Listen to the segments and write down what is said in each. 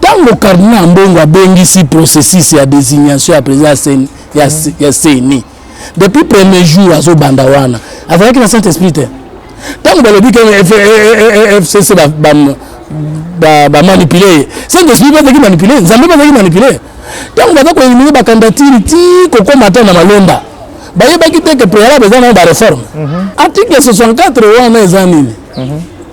Tango Cardinal Ambongo abengisi processus ya designation ya president ya CENI, ya, mm. ya CENI. Depuis premier jour azo banda wana. Azalaki na Saint-Esprit te. Tango balobi que FCC ba, ba, ba, ba manipuler. Saint-Esprit bazaki manipuler, Nzambe bazaki manipuler. Tango baza ko éliminer ba candidature ti kokoma ata na malonda. Bayebaki te que préalable eza na ba réforme. Mm -hmm. Article 64 wana eza nini? Mm -hmm.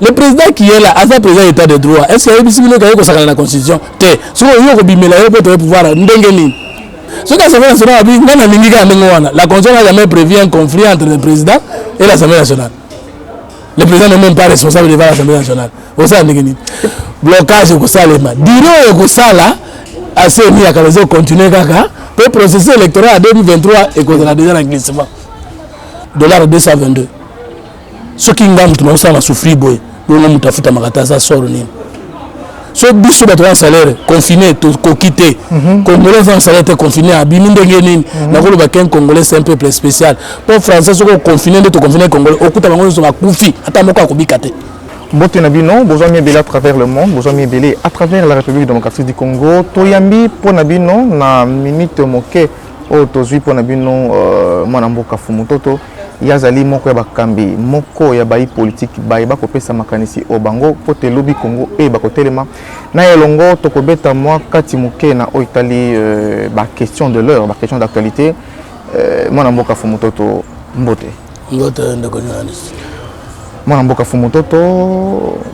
le président qui est là aza président état de droit est ce que ayebisi bino kaye kosakana na constitution te soki oyo kobimela yo mpo toye pouvoir ndenge nini soki assemblée nationale abi ngai nalingi kaka ndenge wana la constitution n'a jamais prévu un conflit entre le président et l'assemblée nationale le président n'est même pas responsable devant l'assemblée nationale osala ndenge nini blocage ekosalema diro ekosala aseni ya kala ezocontinue kaka mpo processus électoral ya 2023 ekozala deja na glissement dollar 222 soki nga moto nakosala na souffrir boye bongo moto afutamaka te aza soro nini so biso bato na salaire confine tokoki te mhm. congolais aza na salaire te confine abimi ndenge nini mhm. nakoloba ken congolais c'est un peuple spécial mpo français soki oconfine nde toconfine congolais okuta bango nyonso bakufi ata moko akobika te mbote na bino bozwa miebele à travers le monde bozwa miebele à travers la république démocratique du congo toyambi mpo na bino na minute moke oyo tozwi mpo na bino euh, mwana mboka fumutoto Ye azali moko ya bakambi moko ya bayi politiki baye bakopesa makanisi o bango mpo te lobi Congo eyeba kotelema na ye elongo. Tokobeta mwa kati moke na oyo etali ba questions de l'heure, ba questions d'actualite. Mwana mboka Fumutoto, mbote. Mbote ndeko journaliste. Mwana mboka Fumutoto,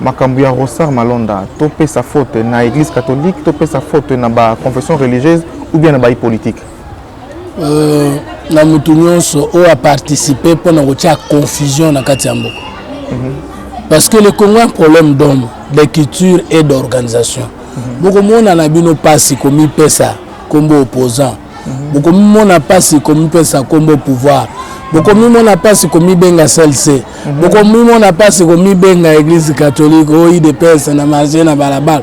makambo ya Ronsard Malonda, topesa faute na eglise catholique, topesa faute na ba confessions religieuses ou bien na bayi politiki? euh, na motu nyonso oyo aparticipe mpo na kotia confusion na kati ya mboka mhm. parce que le congo un problème d'homme de culture et d'organisation mhm. bokomona na bino mpasi komipesa nkombo opposant mhm. bokomimona mpasi komipesa nkombo pouvoir bokomimona mpasi komibenga slc bokomimona mpasi komibenga eglise catholique oidps na marge na balabala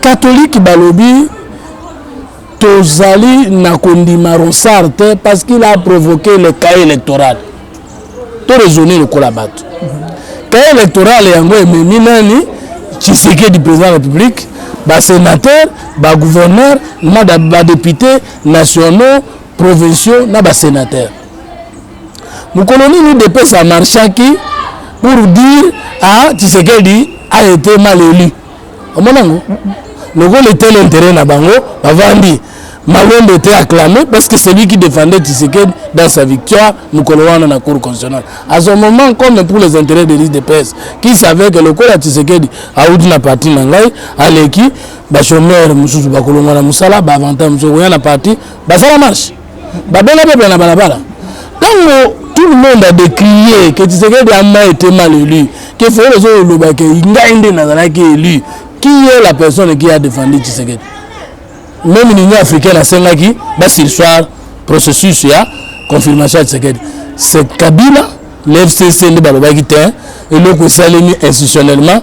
Catholique balobi tozali na kondima Ronsard te parce qu'il a provoqué le cas électoral to raisonner lokola bato cas électoral yango ememi nani Tshisekedi président de la République basénateur bagouverneur na badepute nationaux provinciaux na basénateur mokolo nini udps a marchaki pour dire a tshisekedi a été mal élu omona yango lokola etele intérêt na bango bavandi malonde était acclamé parce que celui qui défendait tshisekedi dans sa victoire mokolo wana na cour constitutionnelle à ce moment comme pour les intérêts de liste de presse qui savait que lokola tshisekedi auti na parti na ngai aleki bachomeur mosusu bakolongwa na mosala baavantage mosusu koya na parti basala marche babenga peuple na balabala ntango tout le monde a décrié que tshisekedi ama été mal élu que fayele ozoloba ke ngai nde nazalaki élu qui est la personne qui a défendu tshisekedi même l'union africaine asengaki basirsoir processus ya confirmation ya tshisekedi c'est kabila le fcc nde balobaki te eloko esalemi institutionnellement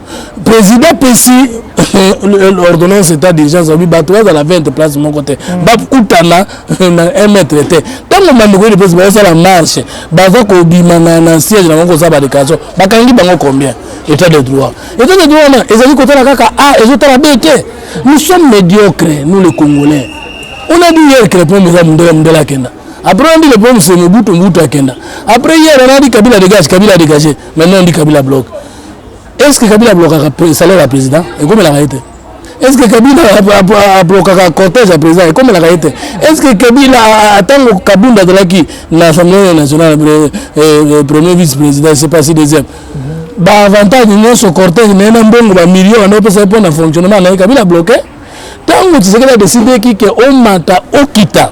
président apesi ordonnance état d'urgence alobi bato bazala 20 place moko te mm. bakutana na 1 mètre te ntango bandeko yede mpesi baosala marche baza kobima na siège na bango kosala badéclaration bakangi bango combien état de droit état de droit wana ezali kotala kaka a ezotala b te nous sommes médiocre nous les congolais on a dit hier que le problème eza mundela mundela akenda Après, on dit le problème c'est Mobutu, Mobutu Akenda. Après, hier, on a dit Kabila dégage, Kabila dégage. Maintenant, on dit Kabila bloque. Est ce que Kabila blokaka salaire ya président ekomelaka ye te est ce que Kabila ablokaka cortège ya président ekomelaka ye te est ce que Kabila ntango Kabunda azalaki na assemblée nationale premier vice président c'est pas si deuxième baavantage nyonso cortège naye na mbongo bamillion wana opesa ye mpo na fonctionnement na ye Kabila bloke ntango Tshisekedi adesideki ke omata okita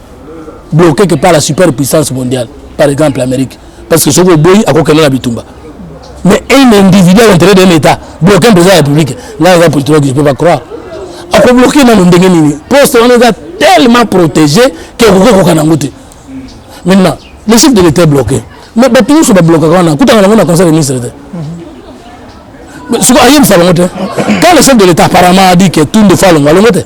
bloquer que par la super puissance mondiale par exemple l'Amérique parce que soki oboyi akokende na bitumba mais un individu à l'intérieur d'un état bloquer un président de la république là eza politologue je peux pas croire akobloquer nano ndenge nini poste wana eza tellement protégé que okoki okoka nango te maintenant le chef de l'état bloqué mais bato nyonso bablokaka wana kutaka nango na conseil de ministre te siko ayebisa bango te quand le chef de l'état apparemment a dit que tunde fo alongo alongo te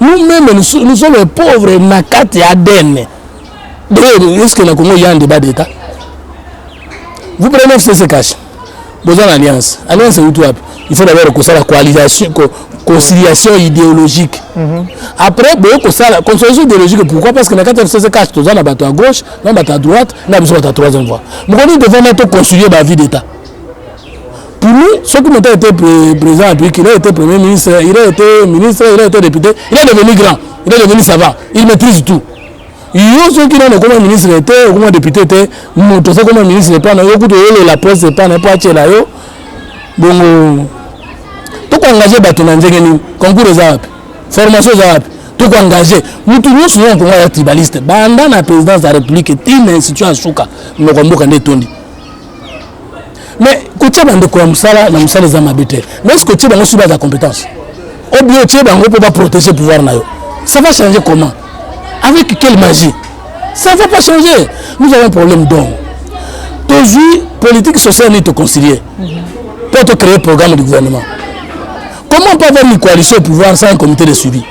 nous même nous, nous sommes les pauvres na kati ya ADN d'ailleurs est-ce que na Congo ya débat d'état vous prenez FCC cash boza na alliance alliance euti wapi il faut d'abord kosala coalition conciliation idéologique mm -hmm. après boye kosala conciliation idéologique pourquoi parce que na kati ya fcc cash toza na bato ya gauche na bato ya droite na biso bato ya troisième voie mokomi devant na to concilier ba vie d'état Pour nous, ce qui était été président la il a été premier ministre, il a été ministre, il a été député, il est devenu grand, il est devenu savant, il maîtrise tout. yo soki nano okoma ministre te okoma député te moto oza okoma ministre epai na yo kutu oyelela poste epai na epo atyela yo bongo tokoengage bato na ndenge nini concours eza wapi formation eza wapi tokoengage motu nyonso na kongo ya tribaliste banda na présidence ya république ti na institution ya suka moko mboka nde etondi mais kotia bandeko ya mosala na mosala eza mabe te mais eske otie bango suba ya compétence ou bien otie bango mpo baprotéger pouvoir na yo ça va changer comment avec quelle magie ça va pas changer nous avons un problème donc tozwi politique sociale nini toconcilie mpo tocréer programme du gouvernement comment peut avoir une coalition au pouvoir sans un comité de suivi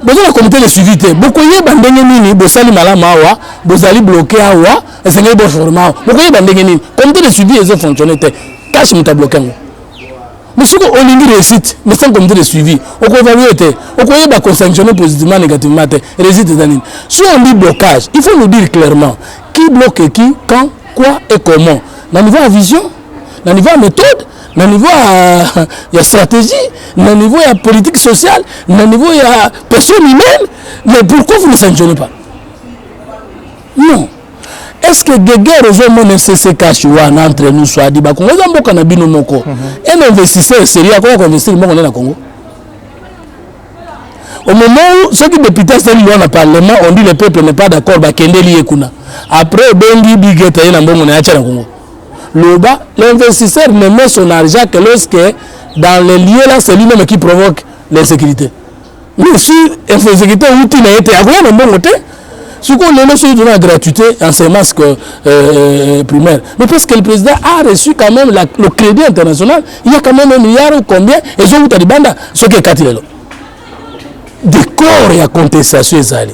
boza na comité de suivi te bokoyeba ndenge nini bosali malamu awa bozali bloke awa esengeli boforma yango bokoyeba ndenge nini comité de suivi ezo fonctionne te cash moto abloke yango mosuku olingi réussite mais sans comité de suivi okoevalue te okoyeba kosanctionne positivement négativement te réussite eza nini si on dit blocage il faut nous dire clairement qui bloque qui quand quoi et comment na niveau ya vision na niveau ya méthode na niveau ya, ya stratégie na niveau ya politique sociale na niveau ya personne humaine mais pourquoi vous ne sanctionnez pas Non. est ce que geger ozomona sscash wana entre nous soadi bakongo eza mboka na bino moko un investisseur sérieux akoya koinvestir moko nde na congo au moment où soki député asali loi na parlement on dit le peuple n'est pas d'accord bakendeli ye kuna après obengi bigeta ye na mbongo na ye atya na congo loba l'investisseur ne met son argent que lorsque dans les lieux là c'est lui-même qui provoque l'insécurité Oui, si executeur outi na yete akoya na mbongo te. Siko lelo soki tuna gratuité enseignement euh, euh, primaire. Mais parce que le président a reçu quand même la, le crédit international, il y a quand même un milliard ou combien et zo outa libanda ce que katilo. Décor ya contestation ezali.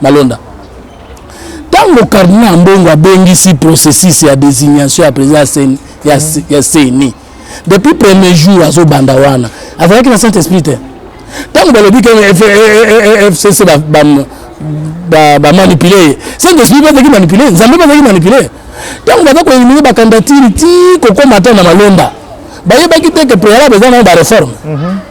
Malonda. Tango Cardinal Ambongo abengisi processus ya designation ya president ya CENI, ya, mm. ya CENI. Depuis premier jour azo banda wana, azalaki na Saint Esprit te. Tango balobi que FCC ba, ba, ba, ba manipuler, Saint Esprit bazaki manipuler, Nzambe bazaki manipuler. Tango baza ko éliminer ba candidature ti kokoma ata na Malonda. Bayebaki te que préalable eza na ba réforme. Mm -hmm.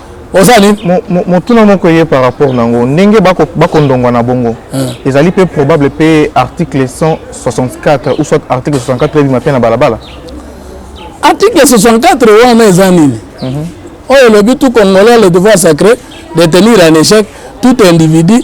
oza nini motuna moko eye par rapport na yango ndenge bakondongwa na bongo ezali mpe probable mpe article 164 ou soit article 64 ebima mpe na balabala article 64 wana eza nini mhm. oyo elobi tout congolais le devoir sacré de tenir en échec tout individu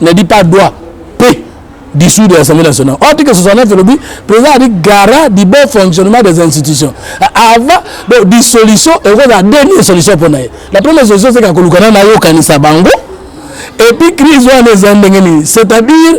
ne dit pas doit pe dissoudre l'Assemblée nationale. Article 69 elobi président ali garant du bon fonctionnement des institutions. Avant bon dissolution ekozala dernière solution mpo na ye. La première solution c'est kakoluka na nayokanisa bango et puis crise wana eza ndenge nini c'est-à-dire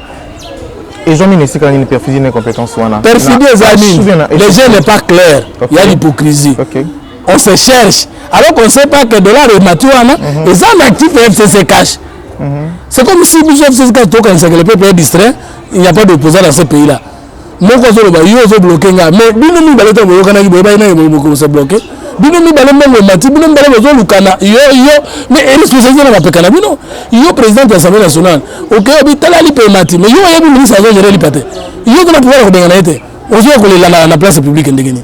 ezwami na esika nini perfidie na incompétence wana perfidie eza nini le jeu n'est pas clair okay. ya l'hypocrisie okay. on se cherche alors qu'on sait pas que dollar emati wana mhm. eza na actif ya fcc cash mhm. c'est comme si biso fcc cash tokanisaka le peuple est distrait il n'y a pas d'opposant dans ce pays là moko azoloba yo ozo bloke nga mais bino mibale ntango boyokanaki boyebaki nani bokosa bloke bino mibale mbongo emati bino mibale bozolukana yo yo mais responsabilité na mapeka na bino yo présidente ya assemblée nationale oke obi tala lipa emati mais yo oyebi ministre azogere lipa te yo tona pouvoir ya kobenga na ye te ozoya kolela na place publique ndenge nini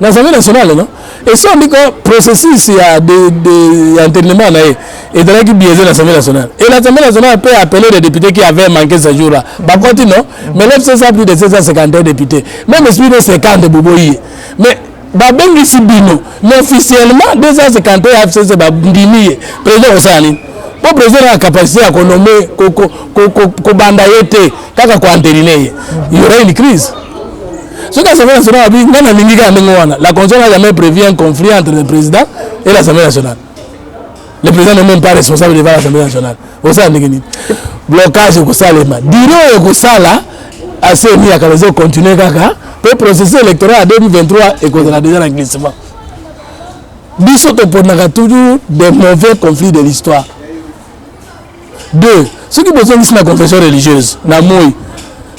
na Assemblée nationale non esi oyebi ko processus ya internement na ye ezalaki biaise na Assemblée nationale et l'Assemblée nationale peut appeler les députés qui avaient manqué ce jour là bakoti non mais lelo sesa plus de 751 députés même esprit de 50 boboyi ye mais babengisi bino mais officiellement 251 ya fcc bandimi ye président kosala nini mpo président na capacité ya konome kobanda ye te kaka koanterine ye il y aura une crise soki assemblée nationale abi ngai nalingi kaka ndenge wana la constitution n'a jamais prévu un conflit entre le président et l'assemblée nationale le président n'est même pas responsable devant l'assemblée nationale osala ndenge nini blocage ekosalema diro oyo ekosala aseni ya kala ezocontinue kaka mpe processus électoral ya 2023 ekozala déjà na glissement biso toponaka toujours des mauvais conflits de l'histoire deux soki bozongisi na confession religieuse na moi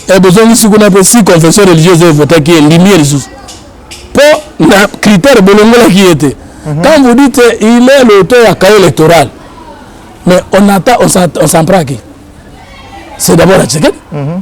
e eh, bozongisi kuna mpe si confession religieuse evotaki ye ndimi ye lisusu mpo na critère bolongolaki ye te mhm. quand vous dites il est l'auteur ya cahier électoral mais on attend on s'en prend à qui c'est d'abord à Tshisekedi mhm.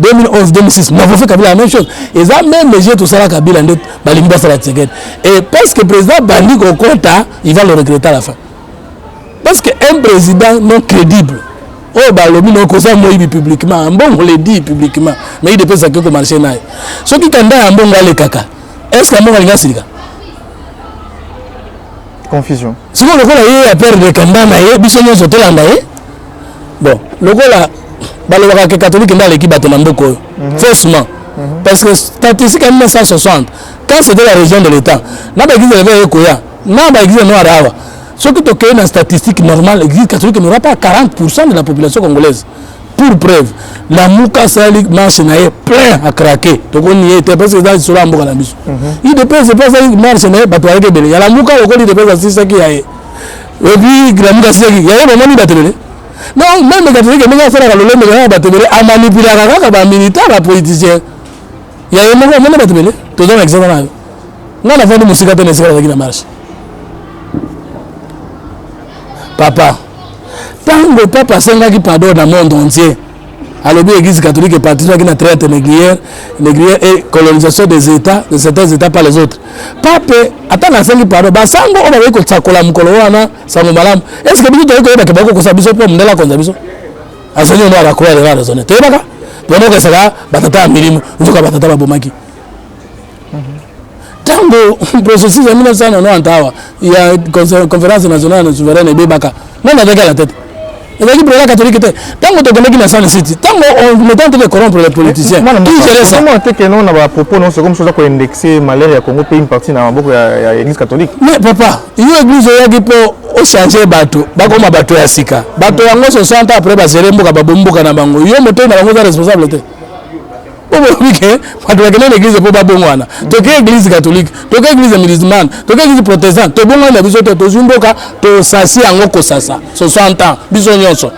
2011 2006 na vofe kabila la même chose eza meme jeu tosala kabila nde balingi basala tshisekedi et parce que président bandi kokota il va le regretter à la fin parce que un président non crédible oyo balobi na okoza moyibi publiquement mbongo le dit publiquement mais ye depesa ke komarche naye soki kanda ya mbongo alekaka est ce que mbongo alingi asilika confusion sikoyo lokola ye ya perdre kamba na ye biso nyonso tolanda ye bon lokola balobaka ke katolike nde aleki bato na mboka oyo mhm. faussement mhm. parce que statistique ya 1960 quand c'était la région de l'état na baeglise eleve eye koya na baeglise noire awa soki tokei na statistique normale église catholique n'aura pas 40 de la population congolaise pour preuve lamuka asali marche na ye plein akrake tokoni ye te parce que eza lisolo ya mboka na biso mhm. idps epe asali marche na ye bato ayaki ebele ya lamuka lokoli idps asisaki ya ye epuis lamuka asisaki ya ye bamoni batelele donc meme katolike ndenge asalaka lolenge kaka bato ebele amanipulaka kaka bamilitaire bapoliticien ya ye moko amoni bato ebele toza na examen nayo ngai nafandi mosika te na esika nazalaki na marche papa ntango papa asengaki pardon na monde entier alobi église catholique eparticipaki na traite négrière négrière et colonisation des états de certains états par les autres pape ata nasengi pardon basango oyo bakoki kosakola mokolo wana sango malamu est ce que biso toyei koyebaka bakoki kokosa biso mpo mondele akonza biso azali omo abakoya lelo araisonne toyebaka toyebaka esaka batata ya milimo nzoka batata babomaki ntango processus ya 1990 awa ya conférence nationale na souveraine ebebaka nani azalaki à la tête ezalaki président catholique te ntango tokendaki na sane city ntango on est en train de corrompre les politiciens qui gérait ça mwana teke non na ba propos non c'est comme ça ko indexer malheur ya Congo pe une partie na maboko ya, ya église catholique mais papa yo église oyaki po ochange bato bakoma bato ya sika bato yango 60 après basere mboka babomboka na bango yo motoi na bango oza responsable te po bolobi ke bato bakenda na eglize mpo babongwana toke eglize catholique toke eglize musulmane toke eglize protestant tobongwani na biso te tozwi mboka tosasi yango kosasa 60 ans biso nyonso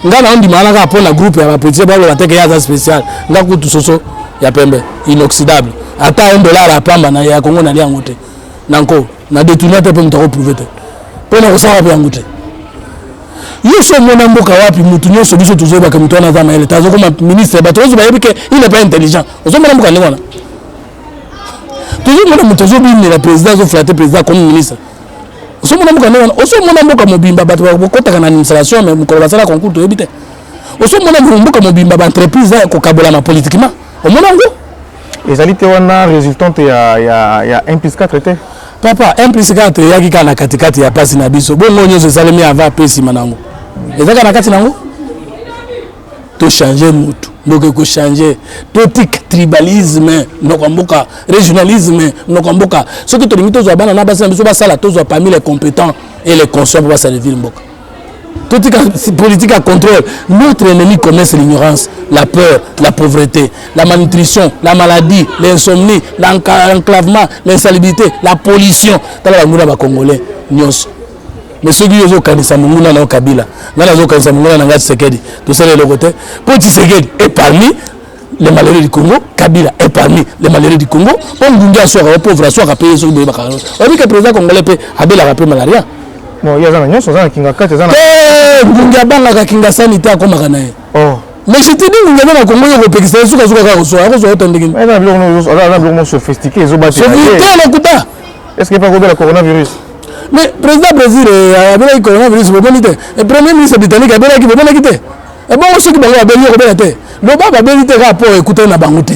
ngai na ondimana kaka mpo na groupe ya bapolitise baloba teke ye aza spécial ngai kutu soso ya pembe inoxydable ata un dollar ya pamba na ya kongo nalia yango te na nko na detourna te mpe moto akoprouve te mpo na kosala mpe yango te yo so omona mboka wapi motu nyonso biso tozoyebaka motu wana aza mayele te azokoma ministre bato nyonso bayebi ke il n'est pas intelligent ozomona mboka ndenge wana tozomona moto azobimela président azoflate président comme ministre osomona mboka ndenge wana osomona mboka mobimba bato bakotaka na administration me mokolo basala concours toyebi te osomona mboka mobimba baentreprise ya kokabolama politiquement omona yango ezali te wana resultante ya, ya, ya 1 plus 4 te papa 1 plus 4 eyaki kaka na katikati ya pasi na biso bongo nyonso esalemi avant mpe nsima nango ezaka na kati nango tochange motu ndoki ekochange totika tribalisme noko ya mboka régionalisme noko ya mboka soki tolingi tozwa bana na basi na biso basala tozwa parmi les compétents et les conscient mpo basalevile mboka totika politique ya contrôle notre ennemi commun c'est l'ignorance la peur la pauvreté la malnutrition la maladie l'insomnie l'enclavement l'insalubrité la pollution tala banguna bacongolais nyonso mais soki yo ozokanisa monguna na yo kabila ngai nazokanisa monguna na ngai tshisekedi tosala eloko te mpo tshisekedi eparmi les malheureux du Congo, Kabila est parmi les malheureux du Congo. On dit à soi, on pauvre à soi, à payer sur le bac. On dit que le président congolais peut abeler la paix malaria. Bon, il y a un nyonso, un kinga kate, un. Eh, ngunga banga ka kinga sanité à koma kana. Oh. Mais je te dis ngunga banga Congo yo kopekisa yo suka suka ka ko so, ko so otande kin. Mais na biloko no, na biloko mo sophistiqué, ezo bati. Sophistiqué na kuta. Est-ce que pas ko bela coronavirus? Mais président Brésil, eh, abelaki coronavirus, bomoni te. Et premier ministre britannique abelaki, bomonaki te. ebongo soki bango babeli yo kobela te loba babeli te kaka mpo ekutani na bango te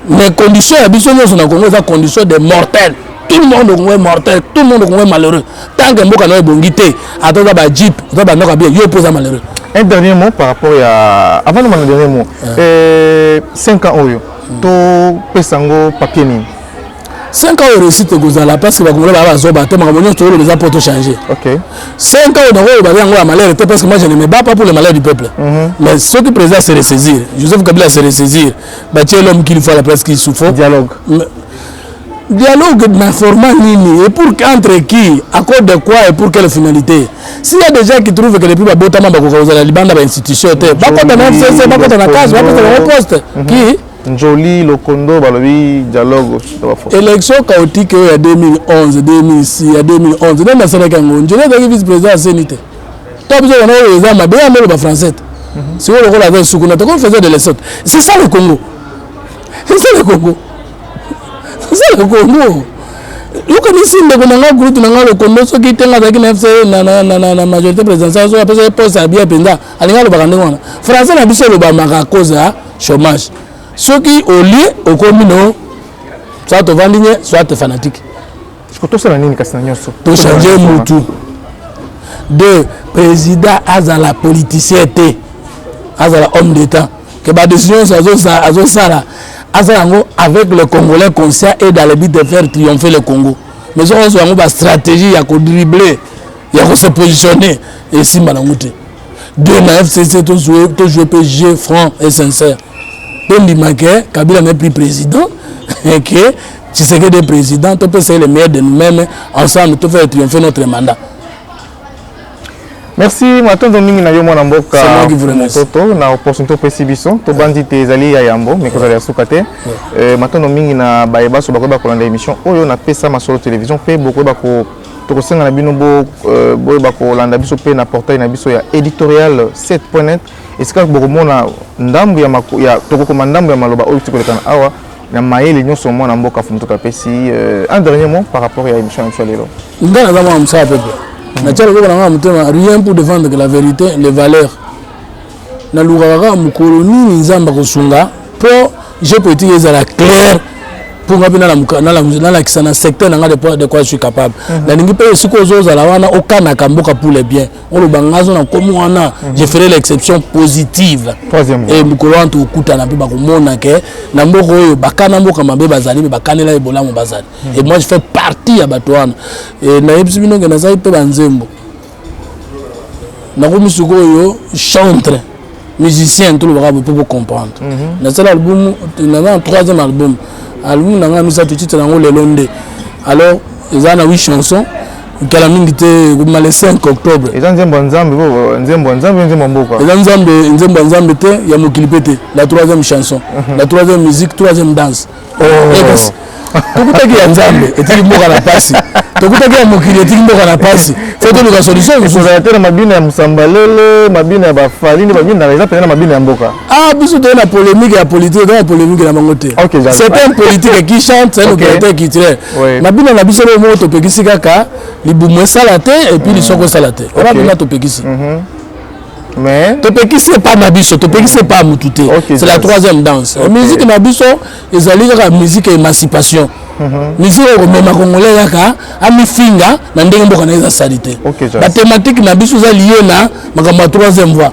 mais condition ya biso nyonso na kongo eza condition de mortel tout le monde okongo mortel tout le monde okongo malheureux tant que mboka na yo ebongi te ata oza bajeep oza banoka bien yo mpo oza malheureux un dernier mot par rapport ya avant de mona dernier mot 5 euh. euh, ans oyo topesa yango papier nini 5 ans réussite ekozala parce que bakongolais baa bazoba te makambo nyonso tokoloba eza mpo tochange 5 ans nakoloba yango ya malheur te parce que moi je ne me bats pas pour le malheur du peuple mhm. mais soki président se ressaisir joseph kabila se ressaisir batie l'homme qu'il faut à la place qu'il se faut dialogue dialogue na format nini et pour entre qui à cause de quoi et pour quelle finalité s'il y a des gens qui trouvent que depuis babotama bakoka kozala libanda ba institution te bakota na fcc bakota na case bakota na poste qui mhm. Njoli Lokondo balobi dialogue na ba forces. Election chaotique oyo ya 2011, 2006, ya 2011 nani asalaki yango? Njoli azalaki vice président ya CENI te. Tant biso wana oyo eza mabe ya molo ba français. Mhm. Sikoyo lokola aza suku na toko faisait de l'essot. C'est ça le Congo. C'est ça le Congo. C'est ça le Congo. yokanisi ndeko na ngai groupe na ngai lokondo soki te ngai azalaki na fc na majorité présidentielle soki apesaki poste ya bien mpenza alingi alobaka ndenge wana français na biso elobamaka koza chômage soki olie okomi no soit tovandi nye soit fanatique tosala nini kasi na nyonso tochange mutu de président azala politicien te azala homme d'état que badécision nyonso azosala azala yango avec le congolais conscient et dans le but de faire triompher le congo mais soki ozwa yango bastratégie ya kodrible ya kose positionne esimba nango te de na fcc to joue mpe jeu franc et sincère tondima ke kabila n'est plus président et que tshisekedi est président topesa ye le meilleur de nous-mêmes ensemble tofere triomphe notre mandat merci matondo mingi na yo mwana mboka mototo na opportunité opesi biso tobandi te ezali ya yambo mais kozala ya suka te euh, matondo mingi na baye baso bakoyeba kolanda émission oyo napesa masolo télévision mpe bokoyeba ko tokosenga na bino boyeba kolanda biso mpe na portail na biso ya editorial 7.net esika bokomona ndambo ya tokokoma ndambo ya maloba oyo tikolekana awa na mayele nyonso mwana mboka fumutuka apesi euh, un dernier mot par rapport ya émission na biso ya lelo ngai naza mwana mosala pepe natia loboko na ngai na motema rien pour défendre que la vérité les valeurs nalukaka kaka mokolo nini nzambe akosunga mpo je politique ezala claire mpo nga mpe nalakisa na secteur na nga de quoi je suis capable mhm. nalingi mpe esika ozozala wana okanaka mboka poule bien oloba nga azo na komi wana mhm. je ferai l'exception positive e mokolo wana tokutana mpe bakomona ke na mboka oyo bakana mboka mabe bazali mpe bakanela ye bolamu bazali mhm. e moi je fais partie ya bato wana nayebisi bino ke nazali mpe banzembo nakomi sikoyo chantre musicien tolobaka boye mpo bocomprendre mhm. nasala album naza na troisième album album na ngai misato titre yango lelo nde alors eza na huit chanson kala mingi te ekobima le 5 octobre eza nzembo ya nzambe nzembo ya nzambe nzembo ya mboka eza nzambe nzembo ya nzambe te ya mokili mpe te la troisième chanson mhm. la troisième musique troisième danse tokutaki ya nzambe etiki mboka na pasi tokutaki ya mokili etiki mboka na pasi fo toluka solution kozala te na mabina ya mosambalele mabina ya bafali nde babina eza mpenza na mabina ya mboka ah biso toye na polémique ya politike toye na polémique na bango te c'est un politique qui chante c'est un opérateur culturel mabina na biso leo moko topekisi kaka libumu esala te epuis lisoko esala te wana mpenza topekisi mhm. mais topekisi epa na biso topekisi epa ya motu te okay, c'est la troisième danse okay. musique na biso ezali kaka musique ya émancipation mhm. musique oyo komema congolais kaka amifinga na ndenge mboka na ye eza sali te okay, bathématique na biso eza lie na makambo ya troisième voie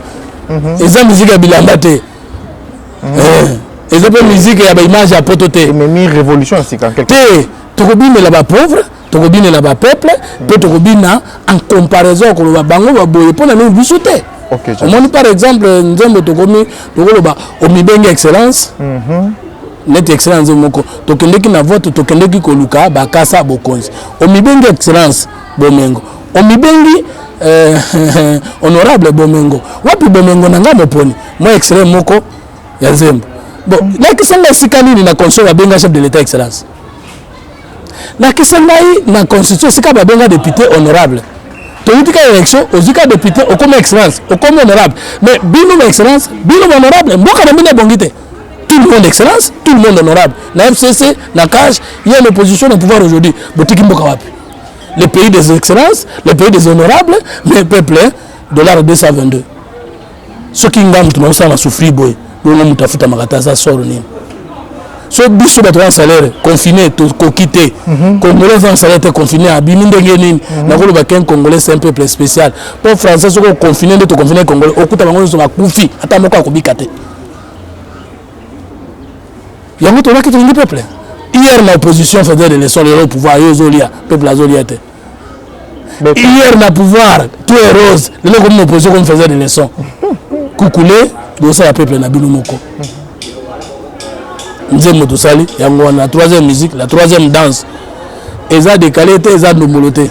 mm -hmm. eza musique ya bilamba te mm -hmm. eh, eza mpe musique ya baimage ya poto te ememi révolution ya sika te tokobimela bapauvre tokobinela ba peuple mpe tokobina en comparaison ya koloba bango baboye mpo na nini biso te omoni par exemple nzembo tokomi tokoloba omibenge excellence mhm. neti excellence moko tokendeki na vote tokendeki koluka bakasa bokonzi omibenge excellence bomengo omibengi eh, honorable bomengo wapi bomengo na ngai moponi mwa excellent moko ya nzembo bon lakisa ngai esika nini na console abenga chef de l'état excellence Lakisa ngai na constitution esika babenga depute honorable toyuti ka élection ozwi ka député okoma excellence okoma honorable mais bino ba excellence bino ba honorable mboka na bino ebongi te tout le monde excellence tout le monde honorable na fcc na cage ye na opposition na pouvoir aujourd'hui botiki mboka wapi le pays des excellences le pays des honorables mais peuple dollar 222 soki nga moto nakosala na souffrir boye bongo moto afutamaka te aza soro nini so biso bato wana salaire confine tokoki te mhm. congolais aza na salaire te confine abimi ndenge nini mhm. nakoloba ken congolais c'est un peuple spécial mpo français soki oconfine nde toconfine congolais okuta bango nyonso bakufi ata moko akobika te yango tolaki tolingi peuple hier na opposition faisait des leçons lelo pouvoir yo ozolia peuple azolia te hier na pouvoir tout est rose lelo komi na opposition comme faisait des leçons kukule bosala peuple na bino moko nzembo tosali yango wana la troisième musique la troisième danse eza décalé te eza ndombolo te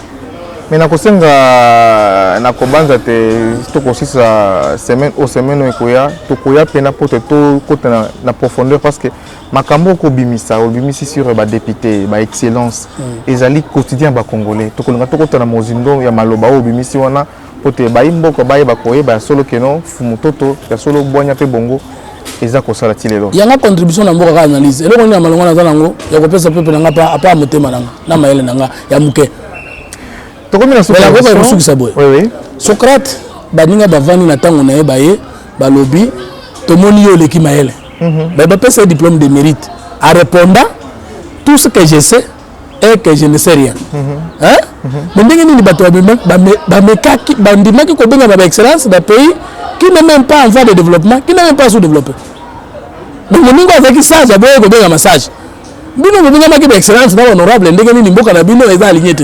me nakosenga euh, nakobanza te tokosisa semaine o semaine oyo ekoya tokoya mpena mpo te tokota na profondeur parce que makambo okobimisa obimisi sur ba député ba excellence mm. ezali quotidien ya ba congolais tokolinga tokota na mozindo ya maloba oyo obimisi wana mpo te bayi mboka bayeba koyeba ya solo keno fumu toto ya solo bwanya mpe bongo eza kosala ti lelo yanga contribution na mboka kaka analyse eloko nini ya malonga naza nango ya kopesa pepe na nga mpe apa motema na nga na mayele na nga ya moke tokomi na sokobaka kosukisa boye socrate baninga bavandi na ntango na ye baye balobi tomoni yo oleki mayele mhm. mais bapesa ye diplôme de mérite a répondant tout ce que je sais et que je ne sais rien mais ndenge nini bato bamekaki bandimaki kobengama ba excellence na pays qui n'est même pas en voie de développement qui n'est même pas sous-développé donc moningo azalaki sage aboye kobengama sage bino bobengamaki ba excellence na honorable ndenge nini mboka na bino eza aligné te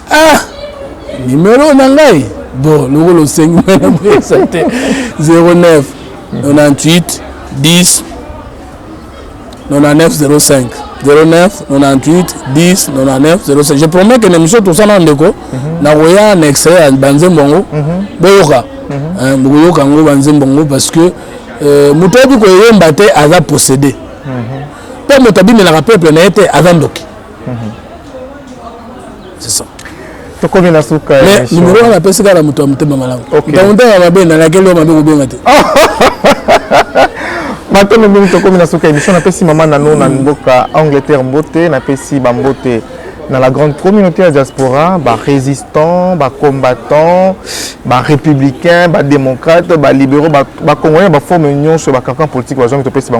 ah numero na ngai bon lokola osengi ngai na boyesa te 09 98 10 9905 09 98 10 99 05 je promets que na émission tosala ndeko mhm. nakoya na extrait ya banzembo yango mhm. boyoka mhm. eh, bokoyoka yango banzembo yango parce que eh, moto ayebi koyemba te aza possédé mpo moto abimelaka peuple na ye te aza ndoki c'est ça tokomi na suka mais numero wana apesi kaka na moto ya motema malamu ntango ntanga mabe nalakeli yo mabe kobenga te matondo mingi tokomi na suka émission napesi mama nano na mboka angleterre mbote napesi bambote dans la grande communauté la diaspora, bah, résistants, bah, combattants, bah, républicains, bah, démocrates, bah, libéraux, bah, bah, congolais, bah, forme union sur bah, cancan politique, bah, gens qui te pèsent, bah,